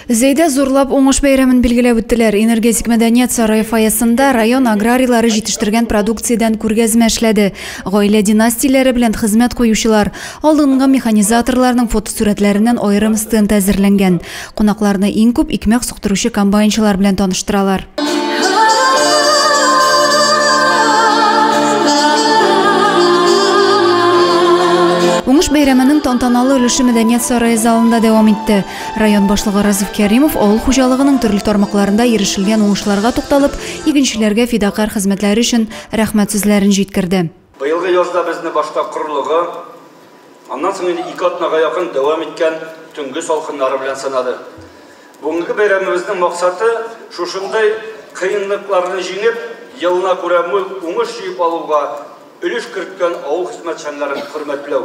Зәйдә зурлап уңыш бәйрәмен билгеләп үттеләр. Энергетик мәдәният сарае фойесында район аграрийлары җитештергән продукциядән күргәзмә эшләде. Гаилә династияләре белән хезмәт куючылар, алдынгы механизаторларның фотосурәтләреннән аерым стенд әзерләнгән. Кунакларны иң күп икмәк суктыручы комбайнчылар белән таныштыралар. Уңыш бәйрәменең тантаналы өлеше мәдәният сарае залында дәвам итте. Район башлыгы Разиф Кәримов авыл хуҗалыгының төрле тармакларында ирешелгән уңышларга тукталып, игенчеләргә фидакарь хезмәтләре өчен рәхмәт сүзләрен җиткерде. Быелгы язда безне башта корылыгы, аннан соң инде ике атнага якын дәвам иткән төнге салкыннары белән сынады. Бүгенге бәйрәмебезнең максаты, шушындый кыенлыкларны җиңеп, елына күрә мул уңыш җыеп алуга өлеш керткән авыл хезмәтчәннәрен хөрмәтләү.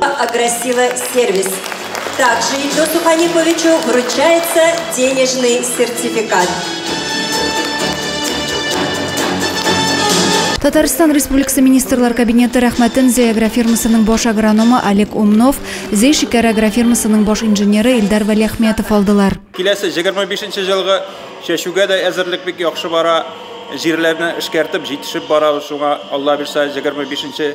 Агрессивный сервис. Также Ильдусу Ханифовичу вручается денежный сертификат. Татарстан Республикасы министрлар кабинеты рәхмәтен Зәй агрофирмасының баш агрономы Олег Умнов, Зәй шикәр агрофирмасының баш инженеры Илдар Вәлиәхмәтов алдылар. Киләсе 25 елгы чәчүгә дә әзерлек бик яхшы бара. Җирләрне эшкәртеп җитешеп барабыз. Шуңа Алла бирса 25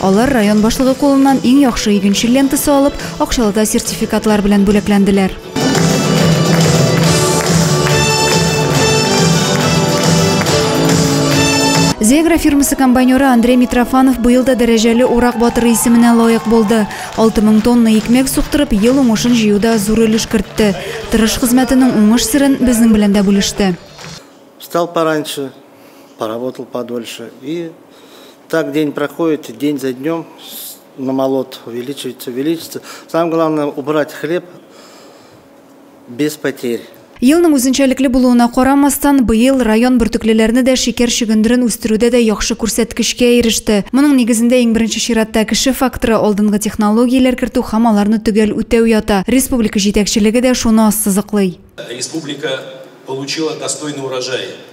Алар район башлыгы кулыннан иң яхшы игенчел лентасы алып, акчалы да сертификатлар белән бүләкләнделәр. Зегра фирмасы комбайнеры Андрей Митрофанов быел да дәрәҗәле урак батыры исеменә лаек булды. 6000 тонна икмәк суктырып, ел уңышын җыюда зур өлеш кертте. Тырыш хезмәтенең уңыш серен безнең белән дә бүлеште. Встал пораньше. поработал подольше. И так день проходит, день за днем намолот увеличивается, увеличивается. Самое главное убрать хлеб без потерь. Елның үзенчәлекле булуына карамастан, быел район бөртеклеләрне дә шикәр чөгендерен үстерүдә дә яхшы күрсәткечкә иреште. Моның нигезендә иң беренче чиратта кеше факторы, алдынгы технологияләр кертү һәм аларны төгәл үтәү ята. Республика җитәкчелеге дә шуны ассызыклый. Республика получила достойный урожай.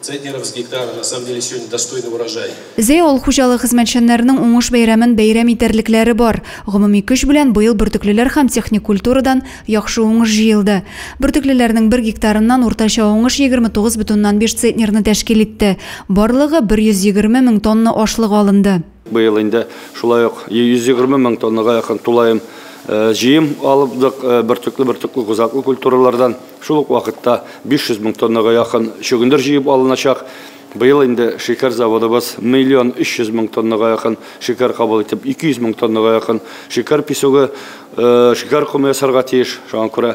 Центнеров с гектара на самом деле сегодня достойный урожай. Зәй авыл хуҗалыгы хезмәтчәннәренең уңыш бәйрәмен бәйрәм итәрлекләре бар. Гомуми көч белән быел бөртеклеләр һәм техник культурадан яхшы уңыш җыелды. Бөртеклеләрнең бер гектарыннан уртача уңыш 29,5 центнерны тәшкил итте. Барлыгы 120 мең тонна ашлык алынды. Быел инде шулай ук 120 мең тоннага якын тулаем җыем алыпдык бөртекле-бөртекле кузаклы культуралардан. Шул ук вакытта 500 мең тоннага якын чөгендер җыеп алыначак. Быел инде шикәр заводыбыз миллион 300 мең тоннага якын шикәр кабул итеп, 200 мең тоннага якын шикәр песогы, шикәр комы ясарга тиеш. Шуңа күрә